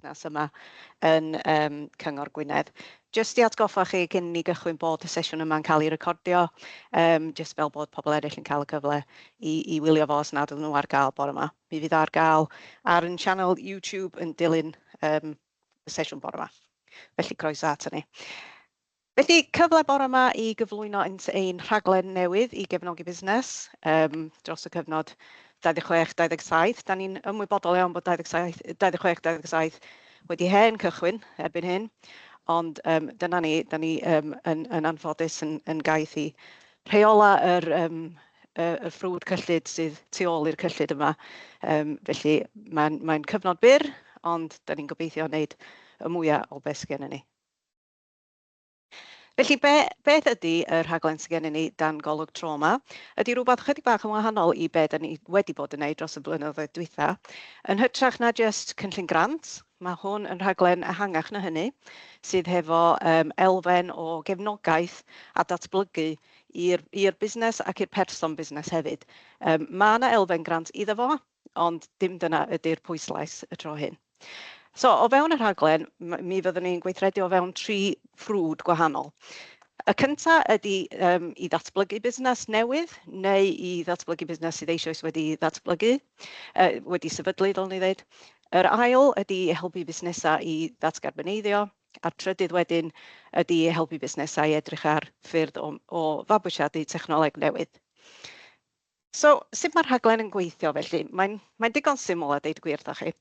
busnes yma yn yym Cyngor Gwynedd. Jyst i atgoffa chi cyn ni gychwyn bod y sesiwn yma'n cael ei recordio, um, jyst fel bod pobl eraill yn cael y cyfle i, i wylio fo os nad ydyn nhw ar gael bore yma. Mi fydd ar gael ar yn sianel YouTube yn dilyn um, y sesiwn bore yma. Felly croeso ato ni. Felly, cyfle bore 'ma i gyflwyno ynt ein rhaglen newydd i gefnogi busnes yym dros y cyfnod 26, 27. Da ni'n ymwybodol iawn bod 27, 26, 27 wedi hen cychwyn erbyn hyn, ond yym dyna ni, da ni yym yn yn anffodus yn yn gaeth i rheola yr yym y y ffrwd cyllid sydd tu ôl i'r cyllid yma. Yym felly, mae'n mae'n cyfnod byr, ond da ni'n gobeithio wneud y mwya o be' sy gennyn ni. Felly, be, beth ydy y rhaglen sydd gennym ni dan golwg tro yma? Ydy rhywbeth chydig bach yn wahanol i be da ni wedi bod yn neud dros y blynyddoedd dwytha. Yn hytrach na just cynllun grant, mae hwn yn rhaglen ehangach na hynny, sydd hefo um, elfen o gefnogaeth a datblygu i'r busnes ac i'r person busnes hefyd. Um, mae yna elfen grant iddo fo, ond dim dyna ydy'r pwyslais y tro hyn. So, o fewn y rhaglen, mi fyddwn ni'n gweithredu o fewn tri ffrwd gwahanol. Y cyntaf ydy um, i ddatblygu busnes newydd neu i ddatblygu busnes sydd eisoes wedi ddatblygu, uh, wedi sefydlu, fel ni ddweud. Yr ail ydy i helpu busnesau i ddatgarboneiddio, a'r trydydd wedyn ydy i helpu busnesau i edrych ar ffyrdd o, o fabwysiadu technoleg newydd. So, sut mae'r rhaglen yn gweithio felly? Mae'n mae'n digon syml a deud y gwir 'da chi.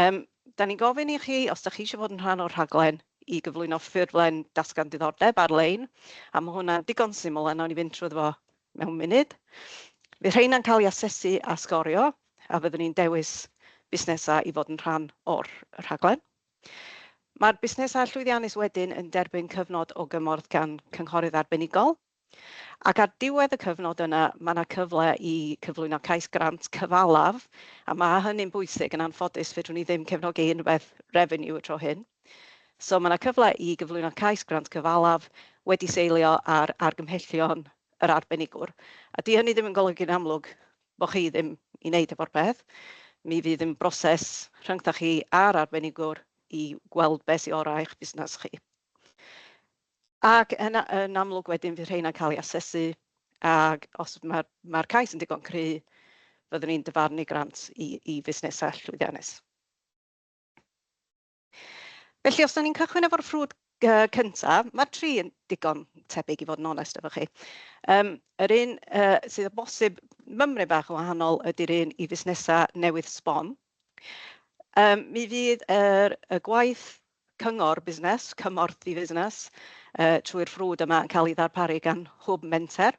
Um, da ni'n gofyn i chi, os da chi eisiau bod yn rhan o'r rhaglen, i gyflwyno ffurflen datgan diddordeb ar-lein, a mae hwnna'n digon syml a nawn ni fynd trwy fo mewn munud. Fydd rheina'n cael ei asesu a sgorio, a fyddwn ni'n dewis busnesau i fod yn rhan o'r rhaglen. Mae'r busnesau llwyddiannus wedyn yn derbyn cyfnod o gymorth gan cynghorydd arbenigol. Ac ar diwedd y cyfnod yna, mae yna cyfle i cyflwyno cais grant cyfalaf, a mae hynny'n bwysig. Yn anffodus, fedrwn ni ddim cefnogi unrhywbeth revenue y tro hyn. So, mae yna cyfle i gyflwyno cais grant cyfalaf wedi seilio ar argymhellion yr arbenigwr. A 'di hynny ddim yn golygu'n amlwg bod chi ddim i wneud efo'r peth. Mi fydd yn broses rhyngthoch chi a'r arbenigwr i weld be sy orau i'ch busnes chi. Ac yn a- yn amlwg wedyn fydd rheina'n cael eu asesu ac os mae'r mae'r cais yn digon cry fyddwn ni'n dyfarnu grant i i fusnesau llwyddiannus. Felly os 'da ni'n cychwyn efo'r ffrwd yy cynta, ma'r tri yn digon tebyg i fod yn onest efo chi. Yym yr un yy sydd o bosib mymryn bach yn wahanol ydy'r un i fusnesau newydd sbon. Yym mi fydd yr y gwaith Cyngor Busnes, Cymorth i Fusnes, trwy'r ffrwd yma yn cael ei ddarparu gan Hwb Menter.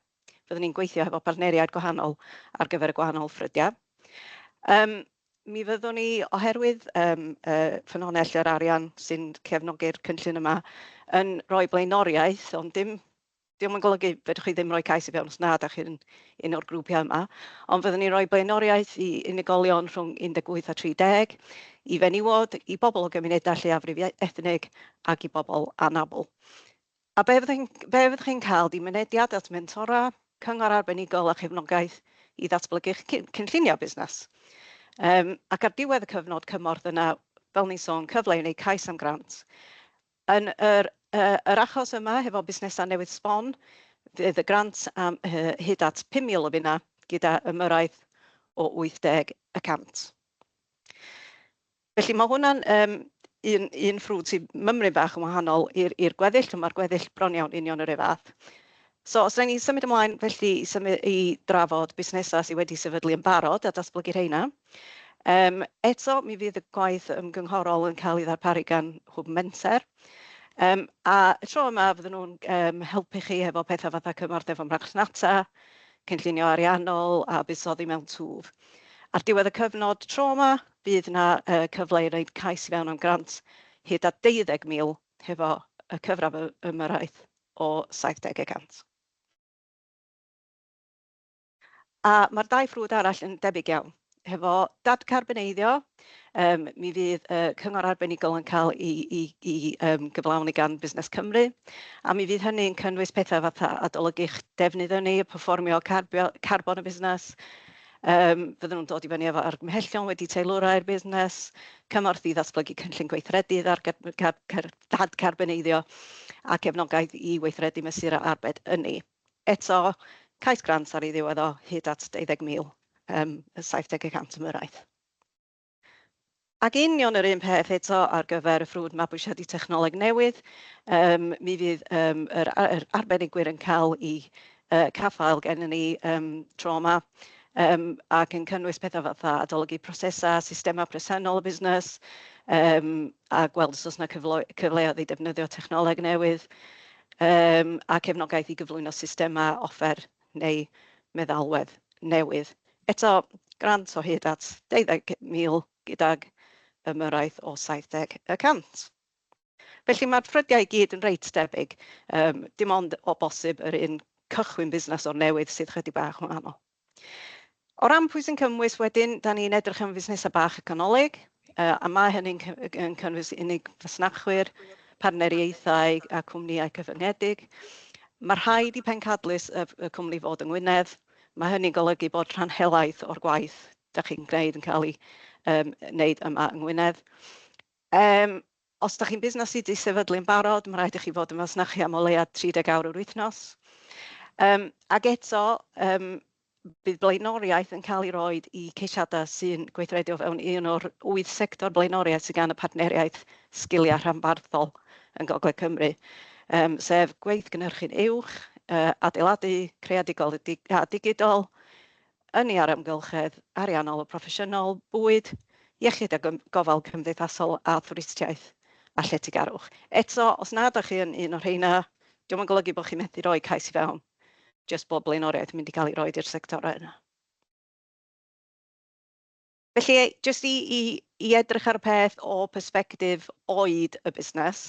Fyddwn ni'n gweithio hefo partneriaid gwahanol ar gyfer y gwahanol ffrydiau. Yym, mi fyddwn ni, oherwydd yym y ffynhonnell yr arian sy'n cefnogi'r cynllun yma, yn rhoi blaenoriaeth, ond dim Diom yn golygu fedrwch chi ddim rhoi cais i fewn os nad ydych chi'n un o'r grwpiau yma, ond fyddwn ni'n rhoi blaenoriaeth i unigolion rhwng 18 a 30, i fenywod, i bobl o gymunedau lleiafrif ethnig ac i bobl anabl. A be fyddwch chi'n be fyddwch chi'n cael ydy mynediad at mentora, cyngor arbenigol a chefnogaeth i ddatblygu eich cynlluniau busnes. Um, ac ar diwedd y cyfnod cymorth yna, fel ni'n sôn, cyfle i wneud cais am grant. Yn yr yr achos yma hefo busnesau newydd sbon, fydd y grant am hyd at 5,000 o finnau gyda ymyrraeth o 80 y cant. Felly mae hwnna'n un un ffrwd sy'n mymryn bach yn wahanol i'r i'r gweddill, ond mae'r gweddill bron iawn union yr un fath. So os rhaid ni symud ymlaen felly i symud i drafod busnesau sydd wedi sefydlu yn barod a datblygu rheina. Yym, eto, mi fydd y gwaith ymgynghorol yn cael ei ddarparu gan Hwb Menter. Yym, a y tro yma fydden nhw'n yym helpu chi hefo petha fatha cymorth efo marchnata, cynllunio ariannol a buddsoddi mewn twf. Ar diwedd y cyfnod tro yma, bydd yna yy cyfle i wneud cais i fewn am grant hyd at 20,000 hefo y cyfradd ymyrraeth o 70 y cant. A mae'r dau ffrwd arall yn debyg iawn. Hefo dadcarboneiddio, um, mi fydd y uh, cyngor arbenigol yn cael ei, ei, ei um, gyflawni gan Busnes Cymru, a mi fydd hynny'n cynnwys pethau fatha adolygu'ch defnydd ynni, performio carbon y busnes, Um, fydden nhw'n dod i fyny efo argymhellion wedi teilwrau'r busnes, cymorth i ddatblygu cynllun gweithredu ar dad carboneiddio a cefnogaeth i weithredu mesurau arbed ynni. Eto, cais grant ar ei ddiwedd o hyd at 20,000, yym, 70 y cant am uraeth. Ac union yr un peth eto ar gyfer y ffrwd mabwysiadu technoleg newydd, yym, mi fydd yym yr a- yr arbenigwyr yn cael eu yy caffael gennyn ni yym tro 'ma, yym, ac yn cynnwys petha fatha adolygu prosesau, systemau presennol y busnes, yym, a gweld os oes 'na cyfleu- cyfleoedd i defnyddio technoleg newydd. Yym a cefnogaeth i gyflwyno systemau offer neu meddalwedd newydd. Eto, grant o hyd at 20,000 gydag ymyrraeth o 70 y cant. Felly, mae'r ffrydiau i gyd yn reit debyg, yym dim ond o bosib yr un cychwyn busnes o'r newydd sydd chydig bach yn wahanol. O ran pwy sy'n cymwys wedyn, da ni'n edrych am fusnesau bach a canolig, a mae hynny'n cynnwys unig fasnachwyr, partneriaethau a chwmnïau cyfyngedig. Mae rhaid i pencadlys y cwmni fod yng Ngwynedd, mae hynny'n golygu bod rhan helaeth o'r gwaith da chi'n gwneud yn cael ei wneud yma yng Ngwynedd. Os dach chi'n busnes sy' 'di sefydlu yn barod, ma' raid i chi fod yn fasnachu am o leiaf 30 awr yr wythnos. Yym, ac eto, yym, bydd blaenoriaeth yn cael ei roid i ceisiadau sy'n gweithredu o fewn un o'r wyth sector blaenoriaeth sydd gan y Partneriaeth Sgiliau Rhanbarthol yng Ngogledd Cymru, yym, sef gweithgynhyrchu'n uwch, yy, adeiladu, creadigol a digidol, ynni ar amgylchedd ariannol a phroffesiynol, bwyd, iechyd a gofal cymdeithasol a thwristiaeth a lletygarwch. Eto, os nad ydych chi yn un o'r rheina, dyw o'm yn golygu bod chi'n methu rhoi cais i fewn, jyst bod blaenoriaeth yn mynd i gael ei roid i'r sectorau yna. Felly, jyst i edrych ar y peth o persbectif oed y busnes,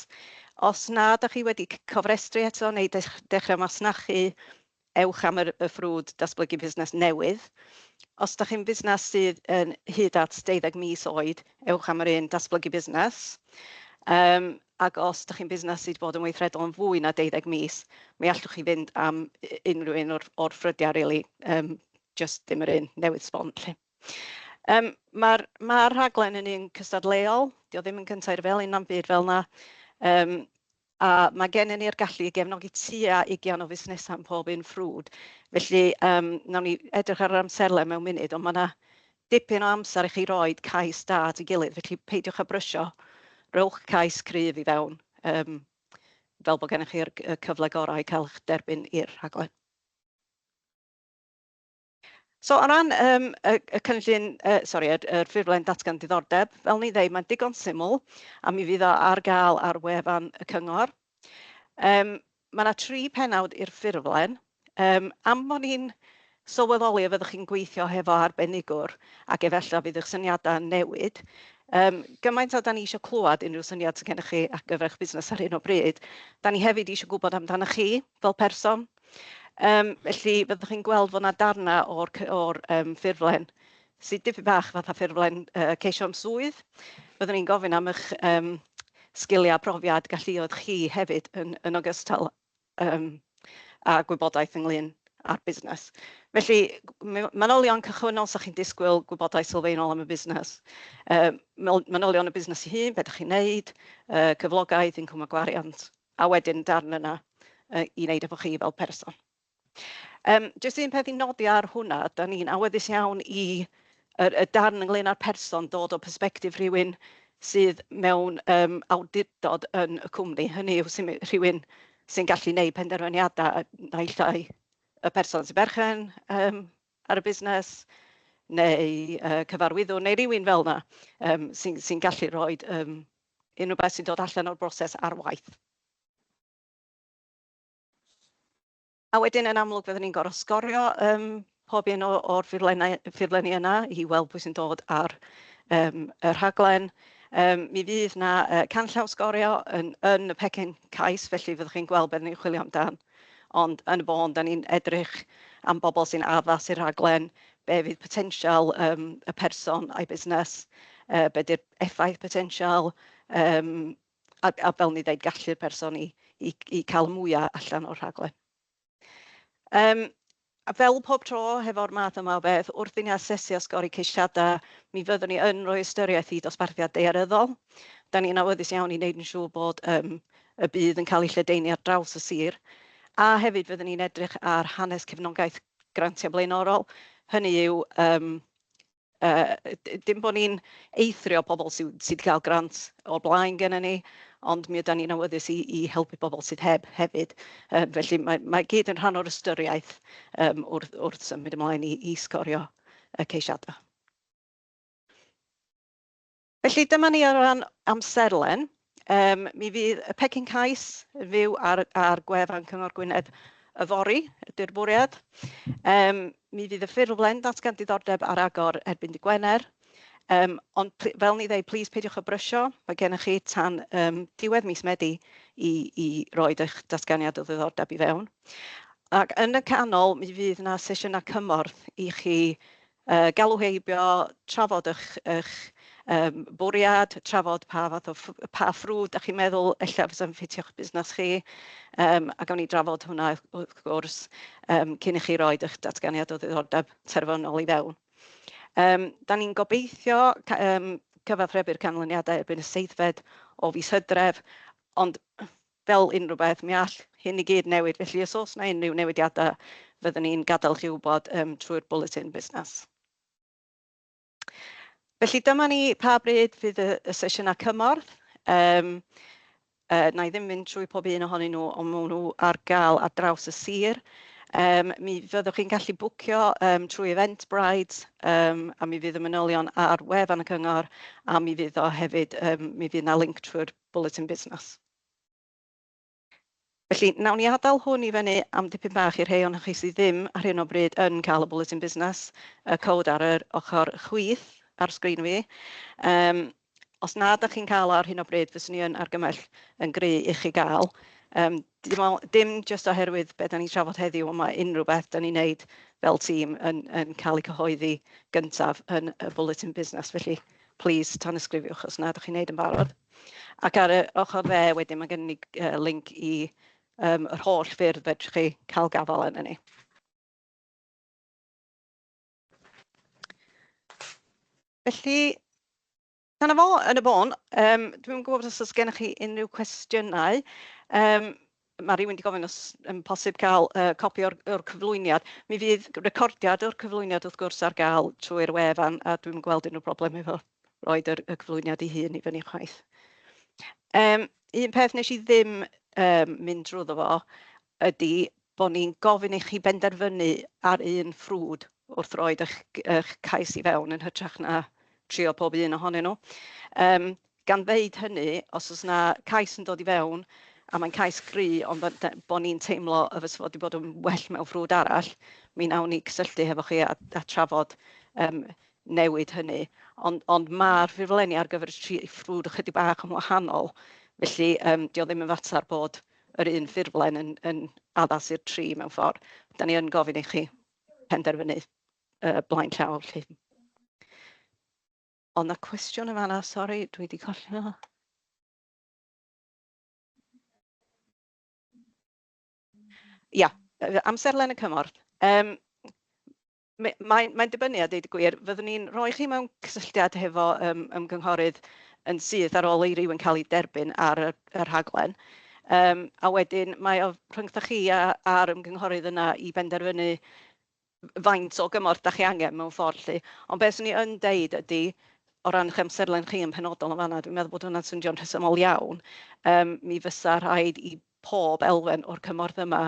os nad ydych chi wedi cofrestru eto neu dechrau masnachu, ewch am y ffrwd datblygu busnes newydd. Os ydych chi'n fusnes sydd yn hyd at 12 mis oed, ewch am yr un datblygu busnes. Ac os ydych chi'n fusnes sydd wedi bod yn weithredol am fwy na 12 mis, mi allwch chi fynd am unrhyw un o'r ffrydiau rili, jyst dim yr un newydd sbon 'lly. Yym ma'r ma'r rhaglen yn un cystadleuol, dio ddim yn cyntaf i'r felin na'm byd fel 'na, yym a ma' gennyn ni'r gallu i gefnogi tua ugian o fusnesau yn pob un ffrwd, felly yym wnawn ni edrych ar yr amserlen mewn munud, ond ma' 'na dipyn o amser i chi roid cais da at ei gilydd, felly peidiwch â brysio, rhowch cais cryf i fewn yym fel bod gennych chi'r cyfle gorau i cael eich derbyn i'r rhaglen. So o ran um, y, y cynllun, uh, sorry, y, y ffurflen datgan diddordeb, fel ni ddweud, mae'n digon syml a mi fydd o ar gael ar wefan y cyngor. Um, mae yna tri penawd i'r ffurflen. Um, am bod ni'n sylweddoli a fyddwch chi'n gweithio hefo arbenigwr ac efallai fydd eich syniadau yn newid, Um, gymaint o da ni eisiau clywed unrhyw syniad sydd gennych chi ar gyfer eich busnes ar hyn o bryd. Da ni hefyd eisiau gwybod amdanoch chi fel person, Yym felly fyddwch chi'n gweld fod 'na darnau o'r c- o'r yym ffurflen sy dipyn bach fatha ffurflen yy ceisio'm swydd. Byddwn i'n gofyn am eich yym sgiliau, profiad, galluoedd chi hefyd yn yn ogystal yym â gwybodaeth ynglyn â'r busnes. Felly m- manylion cychwynnol, 'sa chi'n disgwyl gwybodaeth sylfaenol am y busnes. Yym manylion y busnes ei hun, be dach chi'n wneud, yy cyflogaeth, incwm a gwariant. A wedyn darn yna i wneud efo chi fel person. Um, just un peth i nodi ar hwnna, da ni'n awyddus iawn i y, y darn ynglyn â'r person dod o persbectif rhywun sydd mewn um, awdurdod yn y cwmni. Hynny yw sy'n rhywun sy'n gallu gwneud penderfyniadau naill ai y person sy'n berchen um, ar y busnes neu uh, cyfarwyddwr neu rywun fel yna um, sy'n sy gallu rhoi um, unrhyw beth sy'n dod allan o'r broses ar waith. A wedyn yn amlwg fyddwn ni'n gorfod sgorio um, pob un o'r ffurflenni yna i weld pwy sy'n dod ar um, y rhaglen. Um, mi fydd na uh, canllaw sgorio yn, yn y pecyn cais, felly fyddwch chi'n gweld beth ni'n chwilio amdan. Ond yn y bôn, da ni'n edrych am bobl sy'n addas i'r rhaglen, be fydd potensial um, y person a'i busnes, uh, be di'r effaith potensial yym a a fel o'n i'n ddeud gallu'r person i i i cael mwya allan o'r rhaglen. Yym a fel pob tro hefo'r math yma o beth wrth i ni asesu a sgori ceisiadau mi fyddwn ni yn rhoi ystyriaeth i dosbarthiad daearyddol. Dan ni'n awyddus iawn i wneud yn siŵr bod yym y bydd yn cael ei lledaenu ar draws y sir a hefyd fyddwn ni'n edrych ar hanes cefnogaeth grantiau blaenorol, hynny yw yym Yy, d- dim bod ni'n eithrio pobl sy sy 'di cael grant o'r blaen gennyn ni, ond mi ydan ni'n awyddus i i helpu pobl sydd heb hefyd. Yy, felly mae mae i gyd yn rhan o'r ystyriaeth yym wrth wrth symud ymlaen i i sgorio y ceisiadau. Felly dyma ni ar ran amserlen. Yym mi fydd y pecyn cais yn fyw ar ar gwefan Cyngor Gwynedd yfory ydy'r bwriad. Yym mi fydd y ffurflen ddatgan diddordeb ar agor erbyn dy' Gwener. Yym ond fel ni ddeu plîs peidiwch â brysio, mae gennych chi tan yym diwedd mis Medi i i roid eich datganiad o ddiddordeb i fewn. Ac yn y canol mi fydd 'na sesiynau cymorth i chi Yy, galw heibio, trafod y'ch, y'ch, yym, bwriad, trafod pa fath o ff- pa ffrwd dach chi'n meddwl ella fysa'n ffitio'ch busnes chi, yym, a gawn ni drafod hwnna wrth wrth gwrs, yym, cyn i chi roid y'ch datganiad o ddiddordeb terfynol i fewn. Yym, 'dan ni'n gobeithio ca- yym, cyfathrebu'r canlyniadau erbyn y seithfed o fis Hydref, ond, Fel unrhyw beth, mi all hyn i gyd newid, felly os oes yna unrhyw newidiadau, fyddwn ni'n gadael chi wybod trwy'r bwletin busnes. Felly, dyma ni pa bryd fydd y sesiynau cymorth. Wna i ddim mynd trwy pob un ohonyn nhw, ond maen nhw ar gael ar draws y sir. Mi fyddwch chi'n gallu bwcio trwy Eventbrite, a mi fydd y manylion ar wefan y cyngor, a mi fydd o hefyd, mi fydd 'na linc trwy'r Bwletin Busnes. Felly, wnawn ni adael hwn i fyny am dipyn bach i'r rhei ohonoch chi sydd ddim ar hyn o bryd yn cael y Bwletin Busnes, y cod ar yr ochr chwith ar sgrin fi. Yym, os na ydych chi'n cael o ar hyn o bryd, fyswn i yn argymell yn gry i chi gael. Yym, Dim o- dim jyst oherwydd be dan ni'n trafod heddiw, ond mae unrhyw beth dan ni'n wneud fel tîm yn yn cael ei cyhoeddi gyntaf yn y Bwletin Busnes. Felly, plis tanysgrifiwch os nad dach chi'n wneud yn barod. Ac ar y ochr dde wedyn, mae gennym ni g- yy linc i yym yr holl ffyrdd fedrwch chi cael gafael arnon ni. Felly, Dyna fo, yn y bôn. Yym, dwi'm yn gwybod os oes gennych chi unrhyw cwestiynau. Yym, mae rhywun wedi gofyn os yn posib cael uh, copi o'r, or cyflwyniad. Mi fydd recordiad o'r cyflwyniad wrth gwrs ar gael trwy'r wefan a dwi'n gweld unrhyw broblem efo roed yr, y cyflwyniad i hun i fyny chwaith. Um, un peth nes i ddim um, mynd drwyddo fo ydi bod ni'n gofyn i chi benderfynu ar un ffrwd wrth roid eich eich cais i fewn yn hytrach na trio pob un ohonyn nhw. Yym gan ddeud hynny, os oes 'na cais yn dod i fewn a mae'n cais gry ond bod yy bod ni'n teimlo y fysa fo 'di bod yn well mewn ffrwd arall, mi wnawn ni gysylltu hefo chi a a trafod yym newid hynny. Ond ond ma'r ffurflenni ar gyfer y tri ffrwd ychydig bach yn wahanol, felly yym 'di o ddim yn fatar bod... yr un ffurflen yn yn addas i'r tri mewn ffordd. Dan ni yn gofyn i chi penderfynu yy blaen llaw 'lly. Oedd 'na cwestiwn yn fan'na? Sori, dwi 'di colli fo. Ia, yy amserlen y cymorth. Yym. Mae, mae'n, mae'n dibynnu a deud y gwir. Fyddwn ni'n rhoi chi mewn cysylltiad hefo um, ymgynghorydd yn syth ar ôl i ryw yn cael ei derbyn ar y, y rhaglen. Um, a wedyn mae o rhyngthoch chi a'r ymgynghorydd yna i benderfynu faint o gymorth da chi angen mewn ffordd lli. Ond beth swn i yn deud ydy, o ran eich amserlen chi yn penodol yn fanna, dwi'n meddwl bod hwnna'n syndio'n rhesymol iawn. Um, mi fysa rhaid i pob elfen o'r cymorth yma,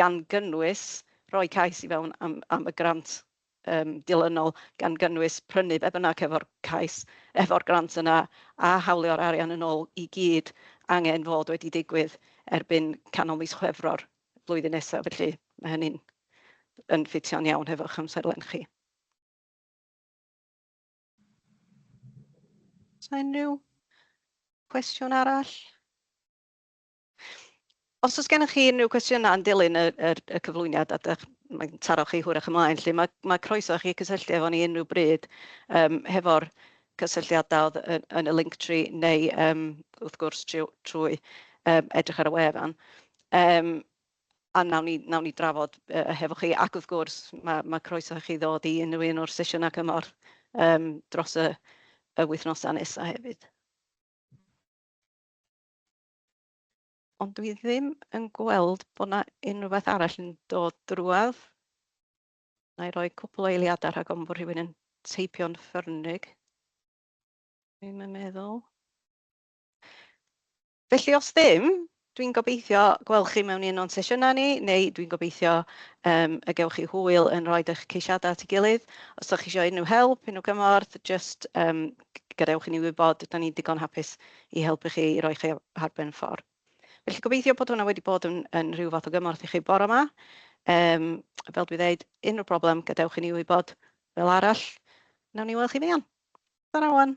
gan gynnwys rhoi cais i fewn am am y grant yym dilynol, gan gynnwys prynu be bynnag hefo'r cais, hefo'r grant yna, a hawlio'r arian yn ôl i gyd angen fod wedi digwydd erbyn canol mis Chwefror flwyddyn nesa, felly ma' hynny'n yn ffitio'n iawn hefo'ch amserlen chi. Sa unrhyw cwestiwn arall? Os oes gennych chi unrhyw cwestiynau yn dilyn y, y, y cyflwyniad a dych, mae'n taro chi hwyrach ymlaen, lle mae, mae croeso chi cysylltu efo ni unrhyw bryd um, hefo'r cysylltiadau oedd yn, yn y link tree neu um, wrth gwrs trwy, trwy um, edrych ar y wefan. Um, a nawn ni, nawn ni drafod uh, hefo chi. Ac wrth gwrs, mae, mae croeso chi ddod i unrhyw un o'r sesiynau cymorth um, dros y, y wythnosau nesaf hefyd. Ond dwi ddim yn gweld bod 'na unrhyw beth arall yn dod drwodd. Wna i roi cwpl o eiliadau rhag ofn bod rhywun yn teipio'n ffyrnig. Dwi'm yn meddwl. Felly os ddim, dwi'n gobeithio gweld chi mewn un o'n sesiynau ni, neu dwi'n gobeithio um, y gewch chi hwyl yn rhoi eich ceisiadau at ei gilydd. Os ydych chi eisiau unrhyw help, unrhyw gymorth, just um, gadewch i ni wybod, ydan ni'n digon hapus i helpu chi, i roi chi ar ben ffordd. Felly gobeithio bod hwnna wedi bod yn, yn rhyw fath o gymorth i chi bore yma. Um, fel dwi ddeud, unrhyw broblem, gadewch i ni wybod. Fel arall, nawn ni weld chi fuan. Dyna wan.